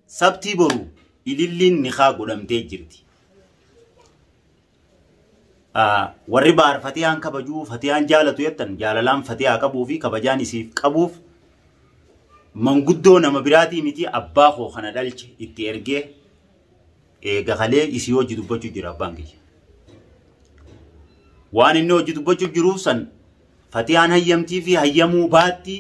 Sabtii boru ililliin nikaa godhamtee jirti. Warri baar fatiyaan kabajuu fatiyaan jaalatu jettan jaalalaan fatiyaa qabuu fi kabajaan isiif qabuuf manguddoo nama biraatii miti abbaa koo kana dhalche itti ergee eega kalee isii hojii dubbachuu jira abbaan kiyya. Waan inni hojii dubbachuu jiruuf san Fatiyaan hayyamtii fi hayyamuu baatti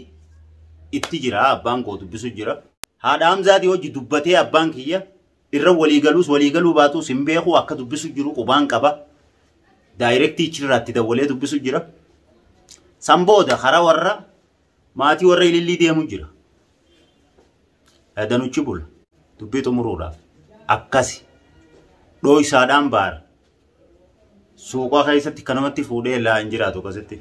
itti jira abbaan koo dubbisu jira. Haadha Hamzaati hojji dubbatee abbaan kiyya irra walii galuus walii galuu baatuus hin beeku akka dubbisu jiru qubaan qaba. Daayirektii ichirraatti dawwalee dubbisu jira. San booda karaa warra maatii warra ilillii deemu jira. Danuchi bula dubbii xumuruudhaaf akkasi dhooysaadhaan baara. suuqaa keessatti kanamatti fuudhee laa hin jiraatu akkasitti.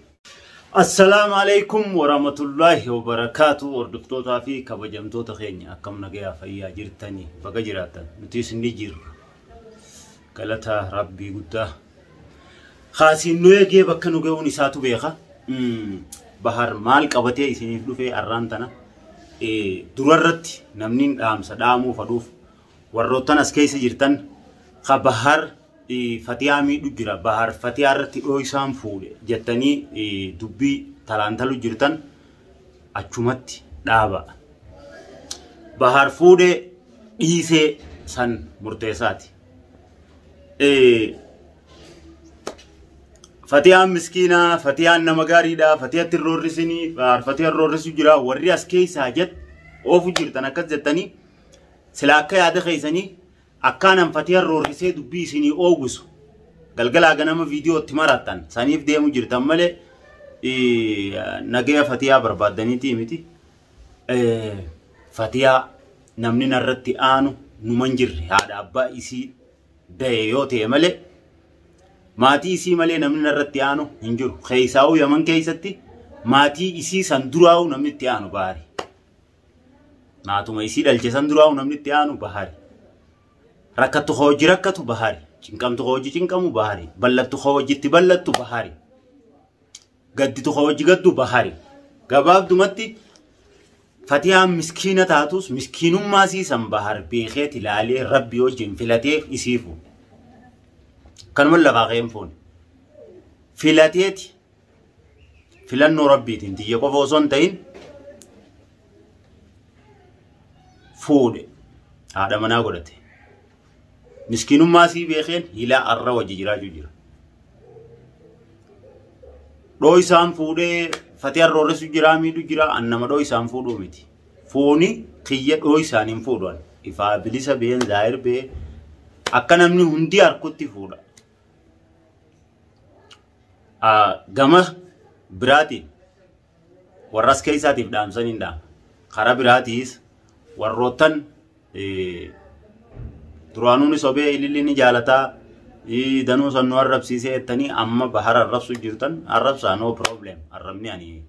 Assalaamu alaikum warahmatullahi wabarakaatu hordoftootaa fi kabajamtoota keenya akkam nagayaa fayyaa jirtanii baga jiraatan nutis ni jirra galataa rabbii guddaa kaasiin nu eegee bakka nu ga'uun isaatu beeka bahar maal qabatee isiniif dhufee arraan tana durarratti namniin dhaamsa dhaamuu fadhuuf Warroottan as keessa jirtan ka Bahar Fatiyaa miidhu jira, Bahar Fatiyaa irratti dhooysaan fuudhe jettanii dubbii talaantalu jirtan achumatti dhaaba. Bahar fuudhe dhiisee san murteessaati. Fatiyaan miskiinaa, Fatiyaan nama gaariidha, Fatiyatti hin roorrisinii, Bahar Fatiyaan roorrisu jira, warri as keessaa jett oofu jirtan akkas jettanii Silaa akka yaada keessanii akkaan an fatiyan roorrisee dubbii isinii oogusu galgalaa ganama viidiyoo itti marattan saniif deemu jirtan malee nagaya fatiyaa barbaaddaniitii miti. Fatiyaa namni narratti aanu numan jirre haadha abbaa isii da'e yoo ta'e malee maatii isii malee namni narratti aanu hin jiru. Keessaa'uu yaman keessatti maatii isii san duraa'uu namni itti aanu baari. Maatuma isii dhalche san duraa namni itti aanu bahari. Rakkattu koo hojii rakkatu bahari. Cinqamtu koo hojii cinqamu bahari. Ballattu koo hojii itti ballattu bahari. Gadditu koo hojii gaddu bahari. Gabaabdumatti Fatiyaan miskiina taatus miskiinummaa isii san bahar beekee tilaalee rabbi wajjin filatee isii fuudhe. Kanuma lafaa ka'een fuune. Filateeti filannoo rabbiitiin tiyya qofa osoo hin ta'in fuudhe haadha manaa godhate miskiinummaa sii beekeen hilaa arra wajji jiraachuu jira dhoo isaan fuudhee fatee arrooressu jiraa miidhu jira an nama dhoo isaan fuudhuu miti fooni kiyya dhoo isaan hin fuudhan ifaa bilisa been zaahir bee akka namni hundi harkutti fuudha Gama biraatiin warras keessaatiif dhaamsan hin dhaama. Karaa biraatiis warroottan duraanuun sobee ililli ni jaalataa danuu san nu arrabsiisee jettanii amma bahara arrabsu jirtan arrabsaa no problem arrabni ani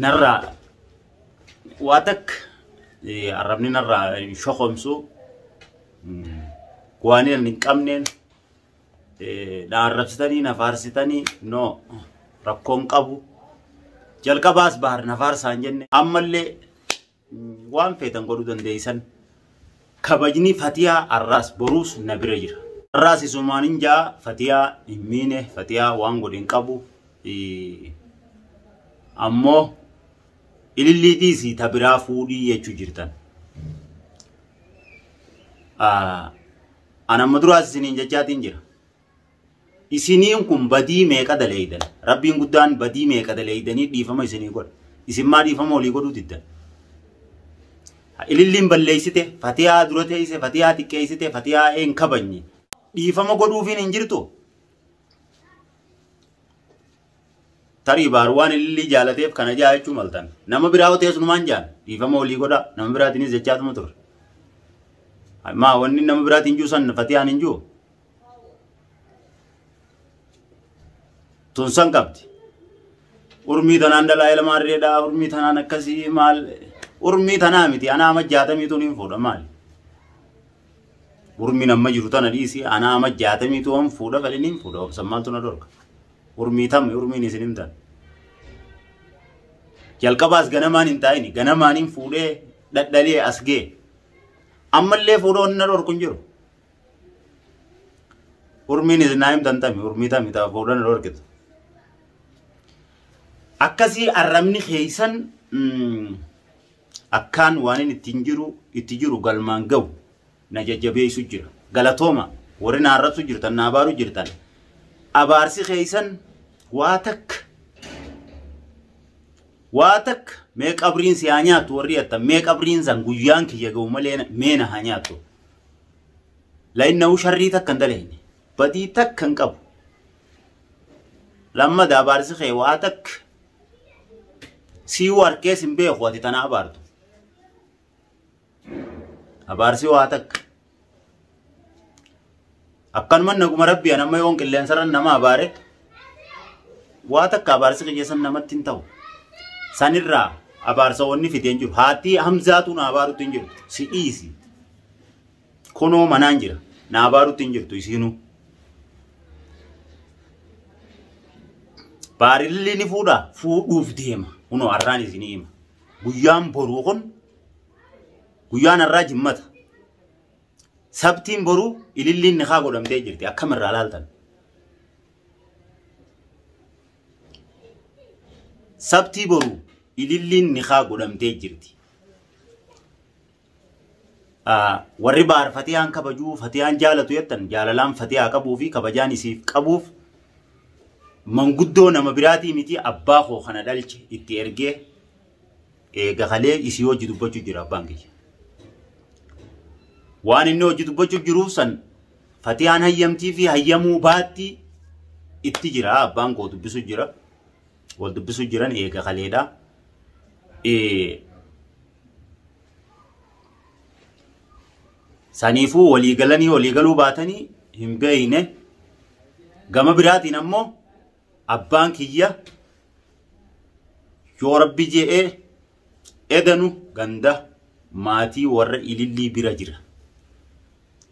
narraa waa takka eh, arrabni narraa hin shokomsu Mm. waan hin qabneen eh, na arrabsitanii na faarsitanii no rakkoon qabu jalqabaas bahar na faarsaan jenne ammallee Waan feetan godhuu dandeessan. Kabajni Fatiyaa arraas boruus na bira jira. Arraas isumaan hin ja'a Fatiyaa hin miine Fatiyaa waan godhe hin qabu. Ammoo ilillii dhiisii ta biraa fuudhii jechuu jirtan. Anamma duraas isiniin jechaatiin jira. isiniin kun badii meeqa daleeydan rabbiin guddaan badii meeqa daleeydanii dhiifama isinii godha isin maa dhiifama olii godhuu diddan ililliin balleeysite fatiyaa dura teeyse fatiyaa xiqqeeysite fatiyaa een kabanye dhiifama godhuufiin hin jirtu tarii baar waan ilillii jaalateef kana jaa jechuu maltan nama biraa teesnumaan jaan dhiifama olii godha nama biraatiinis jechaatuma ture maa wanni nama biraatiin juu san fatiyaan hin juu tun san qabdi urmii tanaan dhalaa ilma harreedha urmii tanaan akkasii maal urmii tanaa miti anaa amma jaatamii tun hin fuudha maali urmiin amma jiru tana dhiisi anaa amma jaatamii tun hin fuudha fedhin hin fuudha obsan maaltu na dorga urmii tamme urmiin isin hin taane jalqabaas ganamaan hin taa'ini ganamaan hin fuudhee dhadhalee as gee ammallee fuudhoo hin na dorku hin jiru Urmiin isinaa hin tantame urmii tami ta'a fuudhan hin horkitu. Akkasii arrabni keessan akkaan waan inni ittiin jiru itti jiru galmaan ga'u na jajjabeessu jira. Galatooma warri na arrabsu jirtan na abaaru jirtan. Abaarsi keessan waa takka waa takka mee qabriin si haa nyaattu warri jettan mee qabriin san guyyaan kiyya ga'u malee mee na haa nyaattu. Lainnahu sharrii takka hin daleyne. Badii takka hin qabu. Lammada abaarsi kee waa takka siiyuu harkees hin beeku ati tana abaartu. Abaarsi waa takka. Akkanuman naguma rabbii anamma yoon qilleensarran nama abaare waa takka abaarsi kiyyasan namatti hin ta'u. Sanirraa abaarsa wanni fide hin jiru. Haattii hamzaatu na abaarutti hin jiru. Si dhiisi. Kunoo manaan jira. Na abaarutti hin jirtu isiinuu. Baarilli ni fuudha fuudhuuf deema. Kunoo har'aan isinii hima. Guyyaan boruu kun guyyaan har'aa jimmata. Sabtiin boruu ililliin nikaa godhamtee jirti. Akkam irraa laaltan? Sabtii boruu ililliin nikaa godhamtee jirti. Warri baar fatiyaan kabajuu fatiyaan jaalatu jettan jaalalaan fatiyaa qabuu fi kabajaan isiif qabuuf manguddoo nama biraatii miti abbaa koo kana dhalche itti ergee Eega kalee isii hojii dubbachuu jira abbaan kiyya. Waan inni hojii dubbachuu jiruuf san fatiyaan hayyamtii fi hayyamuu baatti itti jira abbaan koo dubbisuu jira. Wal dubbisuu jiran eega kaleedha. Eh, Saniifuu walii galanii walii galuu baatanii hin beeyne. Gama biraatiin ammoo abbaan kiyya yoo rabbi je'ee edanu ganda maatii warra ilillii bira jira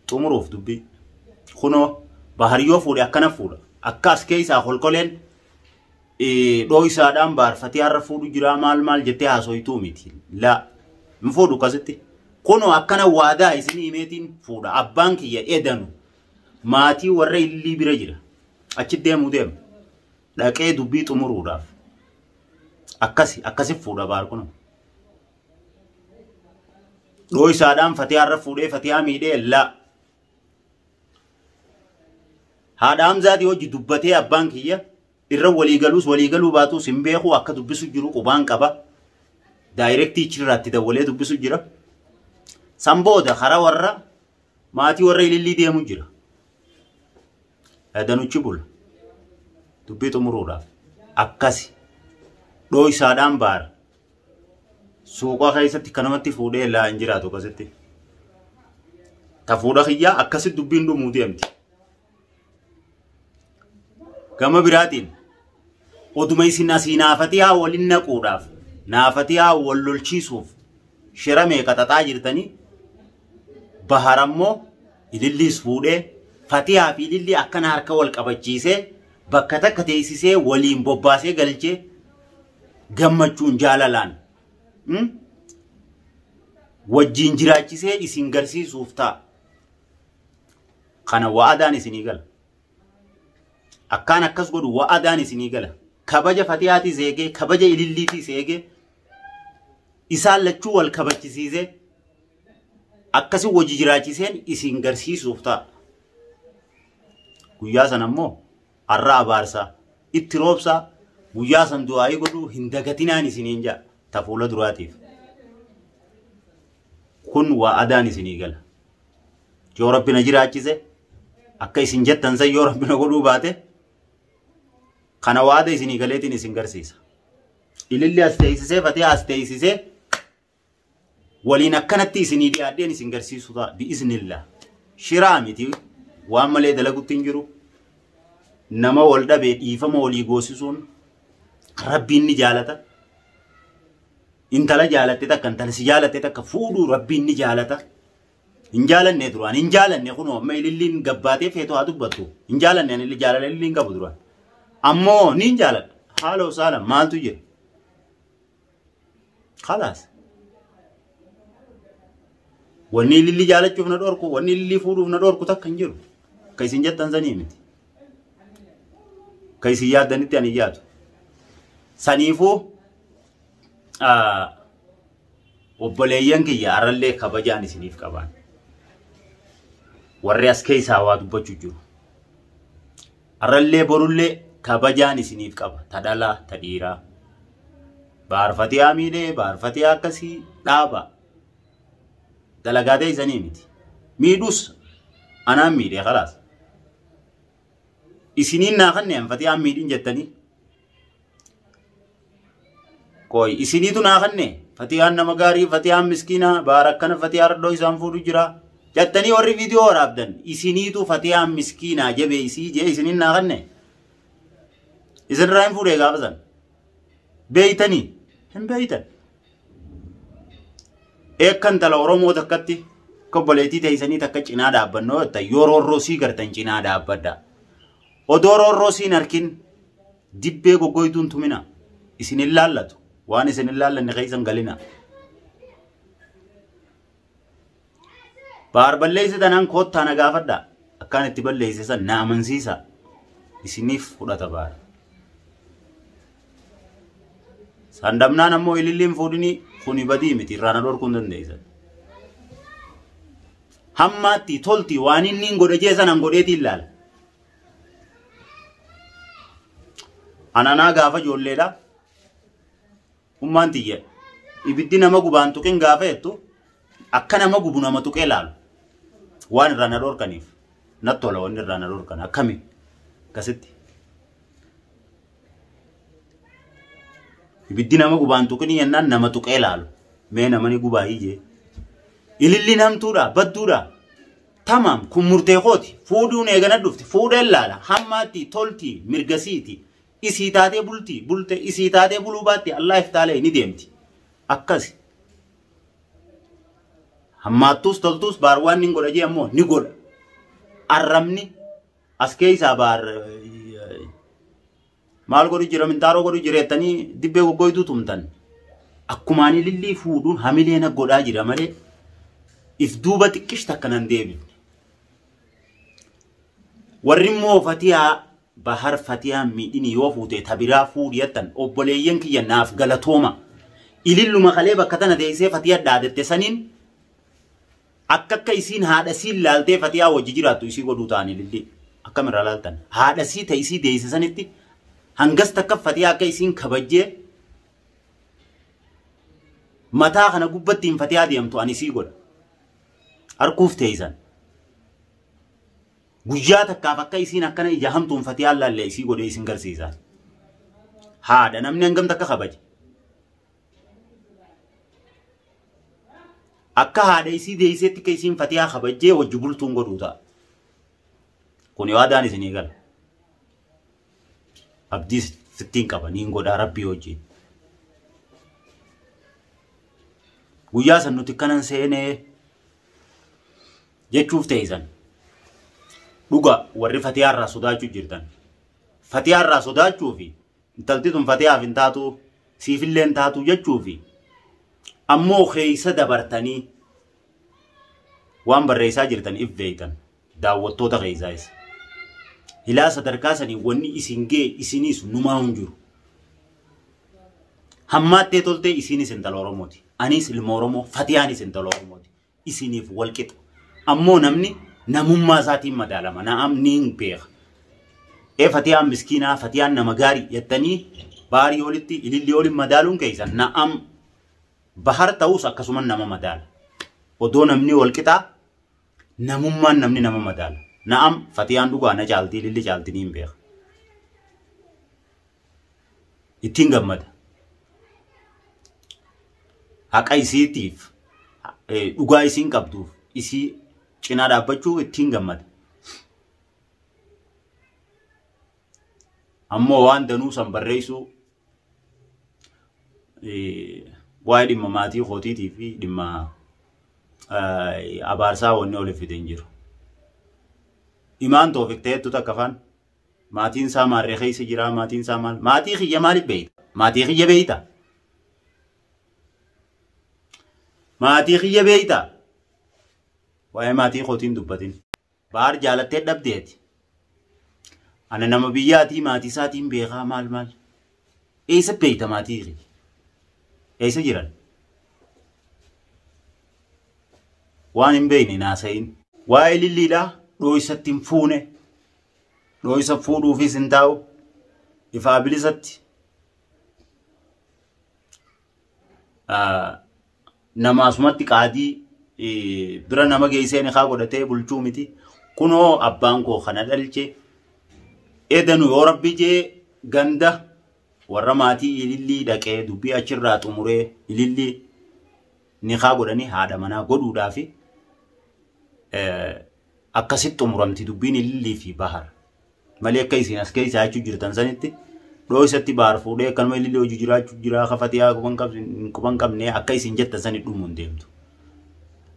xumuruuf dubbii kunoo bahar yoo fuudhe akkana fuudha akka as keessaa kolkoleen eh, dhooysaadhaan baarfatee har'a fuudhu jiraa maal maal jettee haasoytuu miti laa hin fuudhu akkasitti kunoo akkana waadaa isinii himeetiin fuudha abbaan kiyya edanu maatii warra illii bira jira Achi deemuu deema. Dhaqee dubbii xumuruudhaaf. Akkasi akkasi fuudha baar kun. Dhooysaadhaan fatiyaa irra fuudhee fatiyaa miidhee laa. Haadha Hamzaatii hojii dubbatee abbaan kiyya irra waliigaluus waliigaluu baatuus hin beeku akka dubbisu jiru qubaan qaba. Daayirektii ichirraatti dawwalee dubbisu jira. San booda karaa warra Maatii warra ilillii deemu jira. Danuchi bula. Dubbii xumuruudhaaf. Akkasi. Dhooysaadhaan baara. Suuqaa keessatti kanamatti fuudhee laa hin jiraatu akkasitti. Ta fuudha kiyyaa akkasitti dubbiin dhumuu deemti. Gama biraatiin oduma isin asii naafatiyaa waliin naquudhaaf naafatiyaa wal lolchiisuuf shira meeqa xaxaa jirtanii bahar ammoo ililliis fuudhee fatiyaa fi ililli akkana harka wal qabachiisee bakka takka teessisee waliin bobbaasee galchee gammachuun jaalalaan hmm? wajjiin jiraachisee isin garsiisuuf ta'a. Kana wa'adaan isinii gala. Akkaan akkas godhu wa'adaan isinii gala. Kabaja Fatiyaatiis eegee, kabaja Ililliitiis eegee, isaan lachuu wal kabachisiisee, akkasi wajji jiraachiseen isin garsiisuuf ta'a. Guyyaa sana immoo har'a abaarsaa, itti roobsaa, guyyaa san du'aa'ii godhuu hin dagatinaan isiniin ja'a. Ta fuula duraatiif. Kun wa'adaan isinii gala. yoo rabbi na jiraachise akka isin jettan san yoo rabbi na godhuu baate kana waada isinii galeetiin isin garsiisa ililli as teessisee fatee as teessisee waliin akkanatti isinii dhiyaadheen isin garsiisu ta'a bi'iznillah shiraa miti waan malee dalagutti hin jiru nama wal dhabee dhiifama walii goosisuun rabbiin ni jaalata intala jaalatte takka intala si jaalatte takka fuudhuu rabbiin ni jaalata. Hin jaalanne duraan hin jaalanne kunoo amma ililliin gabbaatee feetoo haa dubbattu. Hin jaalanne ani jaalala ililliin qabu duraan. Ammoo niin jaaladha. Haala osaala maaltu jira? Kalaas. Wanni ilillii jaalachuuf na dhorku, wanni ilillii fuudhuuf na dhorku takka hin jiru. Ka isin jettan sanii miti. Ka isin yaaddanitti ani yaadu. Saniifuu obboleeyyan kiyya arallee kabajaan isiniif qabaan warri as keessaa waa dubbachuu jiru arallee borullee kabajaan isiniif qaba ta dhalaa ta dhiiraa baarfatiyaa miidhee baarfatiyaa akkasii dhaaba dalagaatee isanii miti miidhus anaan miidhee kalaas isiniin naa kanneen fatiyaan miidhin jettanii Qoy isiniitu naa kanne fatiyaan nama gaarii fatiyaan miskiinaa baara akkana fatiyaa radhoo isaan fuudhu jira jattanii warri viidiyoo waraabdan isiniitu fatiyaan miskiinaa jabee isii jee isiniin naa kanne isin irraa hin fuudhee gaafa san beeytanii hin beeytan eekkan tala oromoo takkatti kobboleetii teeysanii takka cinaa dhaabbannoo yoo roorroo sii gartan cinaa dhaabbadha odoo roorroo siin harkin Dibbee goggoytuu hin tuminaa. Isin hin laallatu. Waan isin hin laallanne keessa hin galinaa. Baar balleessi tanaan koottaa na gaafadha. Akkaan itti balleesse san na amansiisa. Isiniif fudhata baar. San dhabnaan ammoo ililliin fuudhinii kuni badii miti irraa na dhorkuu hin dandeessan. Hammaatti tolti waan inni hin godhe jee sanan godheetii ilaala. Ananaa gaafa ijoolleedha. Ummaan tiyya. Ibiddi nama gubaan tuqin gaafa jettu akka nama gubu nama tuqee laalu. Waan irraa na dhorkaniif natti tola wanni irraa na dhorkan akkami akkasitti. Ibiddi nama gubaan tuqin jennaan nama tuqee laalu. Mee namani gubaa hiyyee. Ililliin hamtuudha badduudha. Tamaam kun murtee kooti. Fuudhuun eegana dhufte. Fuudheen laala. Hammaatti tolti mirgasiiti. Isii taatee bulti. Bulte isii taatee buluu baatti. Allah iftaalee ni deemti. Akkasi. Hammaattuus toltuus baar waan ni godha jee ammoo ni godha. Arrabni as keessaa baar Maal godhu jira mintaaroo godhu jireettanii dibbee goggoyduu tumtan. Akkumaan ilillii fuudhuun hamilee na godhaa jira malee if duuba xiqqish takka nan deebifne. Warri immoo fatiyaa bahar fatiyaa miidhini yoo fuutee tabiraa fuudhi jettan obboleeyyan kiyya naaf galatooma. Ililluma kalee bakka tana teessee fatiyaa dhaadatte saniin Akka akka isiin haadha isiin laaltee fatiyaa wajji jiraattu isii godhuu taani lillii akkam irraa laaltan haadha isii ta isii deeyse sanitti hangas takka fatiyaa akka isiin kabajjee mataa kana gubbatti hin fatiyaa deemtu ani isii godha harkuuf teeysan guyyaa takkaaf akka isiin akkana ija hamtuun fatiyaa laallee isii godhee isin garsiisa haadha namni hangam takka kabaje Akka haadha isii deeyseetti akka isiin fatiyaa kabajjee wajji bultuun godhuu ta'a. Kuni waadaan isinii gala. Abdii sittiin qaba niin godhaa rabbii wajjiin. Guyyaa san nuti kanan seenee jechuuf teeysan. Dhuga warri fatiyaa irraa sodaachuu jirtan. Fatiyaa irraa sodaachuu fi Intalti tun fatiyaaf hin taatuu siifillee hin taatuu jechuufi ammoo keessa dabartanii waan barreessaa jirtan if beektan daawwattoota keessaayis. Hilaa sadarkaa sanii wanni isin gee isiniis numaa hin jiru. Hammaattee toltee isiinis intala Oromooti. Aniis ilma Oromoo fatiyaanis intala Oromooti. isiniif wal qixa. Ammoo namni namummaa isaatiin madaalama. Na'am niin beeka. Ee Fatiyaan miskiinaa, Fatiyaan nama gaarii jettanii baarii olitti ilillii olin madaaluun keessan na'am bahar ta'us akkasuma nama madaala. Odoo namni wal qixaa namummaan namni nama madaala. Na'am Fatiyaan dhugaa na caalti ililli caalti niin beeka. ittiin gammada. Haqa isiitiif dhugaa isiin qabduuf isii cinaa dhaabbachuu ittiin gammada. Ammoo waan danuu san barreessuu waa'ee dhimma maatii kootiitii fi dhimma abaarsaa wanni oliif fide hin jiru. Imaan toofiq ta'eettu takka faan. Maatiin isaa maarree keessa jiraa? Maatiin isaa maal? Maatii kiyya maaliif beeyta? Maatii kiyya beeyta? Maatii kiyya beeyta? Waa'ee maatii kootiin dubbatin. Baar jaalattee dhabdeeti. Ana nama biyyaatii maatii isaatiin beekaa maal maal? Eessa beeyta maatii kiyya? Eessa jiran? Waan hin beeyne naasayin. Waa'ee lilliidhaa dhooysatti hin fuune. dhooysa fuudhuufis hin taa'u ifaa bilisatti namaasumatti qaadii bira nama geessee nikaa godhatee bulchuu miti kunoo abbaan koo kana dhalche edanu yoo rabbi jee ganda warra maatii ilillii dhaqee dubbii achirraa xumuree ilillii nikaa godhanii haadha manaa godhuudhaafi Akkasitti xumuramti dubbiin Ilillii fi Bahar. Malee akka isin as keessa jechuu jirtan sanitti dhooysatti Bahar fuudhee akkanuma Ilillii hojii jiraachuu jiraa ka Fatiyaa quban qabnee akka isin jettan sani dhumuun deemtu.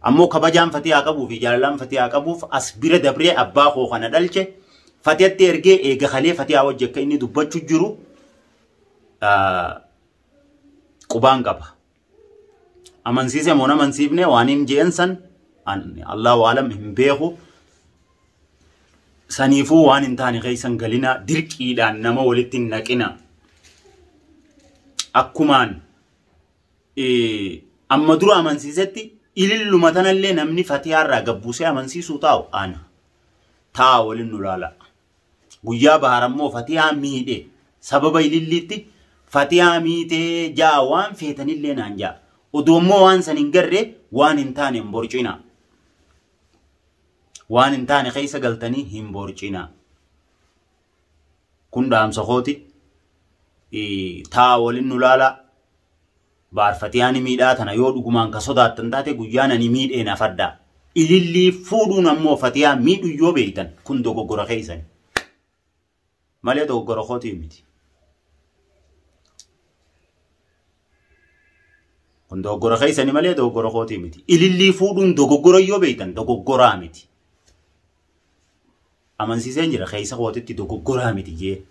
Ammoo kabajaan Fatiyaa qabuu fi jaalalaan Fatiyaa qabuuf as bira dabree abbaa koo kana dhalche Fatiyatti ergee eega kalee Fatiyaa wajji akka inni dubbachuu jiru qubaan qaba. amansiise moo amansiifne waan hin jeen san Allahu alam hin beeku. Saniifuu waan hin taane keessan galina dirqiidhaan nama walitti hin naqina. Akkumaan amma dura amansiisetti ililluma tanallee namni fatiyaarraa gabbuusee amansiisuu taa'u ana. Ta'a waliin nu laala. Guyyaa Bahaar ammoo Fatiyaa miidhe. Sababa ililliitti Fatiyaa miitee ja'a waan feetanillee naan ja'a. Odoo immoo waan san hin garre waan hin taane hin borcina. Waan hin taane keessa galtanii hin borcina. Kun dhaamsa kooti. Taa waliin nu laalaa. Baarfatee ani miidhaa tana yoo dhugumaan ka sodaattan taate guyyaan ani miidheen hafadhaa. Ilillii fuudhuun ammoo Fatiyaa miidhu yoo beektan kun dogoggora keessani. Malee dogoggora kootii miti. Kun dogoggora keessani malee dogoggora kootii miti. Ilillii fuudhuun dogoggora yoo beektan dogoggoraa miti. Amansiiseen jira keessa kootitti dogoggoraa miti jee.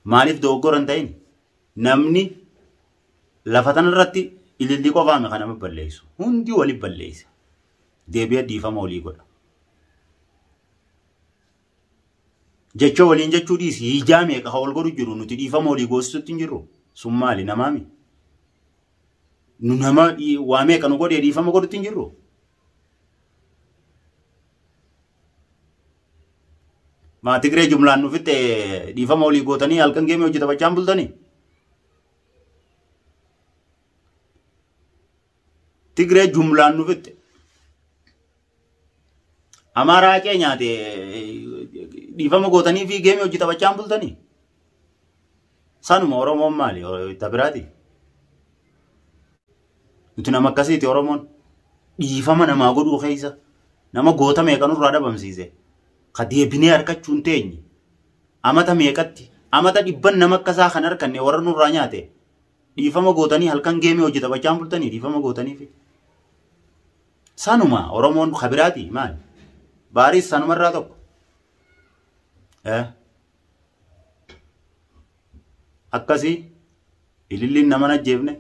Maaliif dogoggora hin ta'in? Namni Lafa tanarratti ililli qofaami kan nama balleessu. Hundi wali balleessa. Deebi'ee dhiifama walii godha. Jecha waliin jechuu dhiisi. Hijaa meeqa kan wal godhu jiru nuti dhiifama walii goosisutti hin jirru. Sun maali namaami? Nu nama waa meeqa nu godhee dhiifama godhutti hin jirru. Maa Tigree jumlaan nu fixxee dhiifama walii gootanii halkan geemee hojii taphachaan bultanii? Tigree jumlaan nu fixxe. Amaaraa haqee nyaate dhiifama gootanii fi geemii hojii taphachaa hin bultanii. Sanuma Oromoon maali? Itti biraati. Nuti nama akkasiiti Oromoon. Dhiifama namaa godhuu keessa nama goota meeqa nurraa dhabamsiise. Ka deebinee harkachuun teenye. Amata meeqatti? Amata dhibban nama akka isaa kan arkanne warra nurraa nyaate dhiifama gootanii halkan geemii hojii taphachaan bultanii dhiifama gootaniifi. Sanuma Oromoon kabiraati maali? Baariis sanumarraa tokko. Eh. Akkasii. Ililliin nama hin ajjeefne.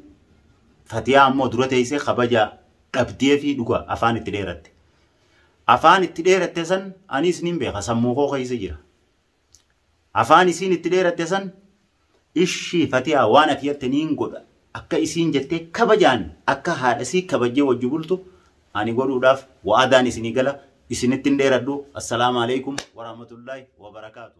Fatiyaa ammoo dura teessee kabaja dhabdee fi dhuga afaan itti dheeratte. Afaan itti dheeratte san anis nin beeka sammuu koo keessa jira. Afaan isiin itti dheeratte san ishii fatiyaa waan ati jette niin godha akka isiin jettee kabajaan akka haadha isii kabajjee wajji bultu ani godhuudhaaf wa'adaan isinii gala isinitti hin dheeradhu assalaamu alaikum warahmatullaahi wabarakaatu.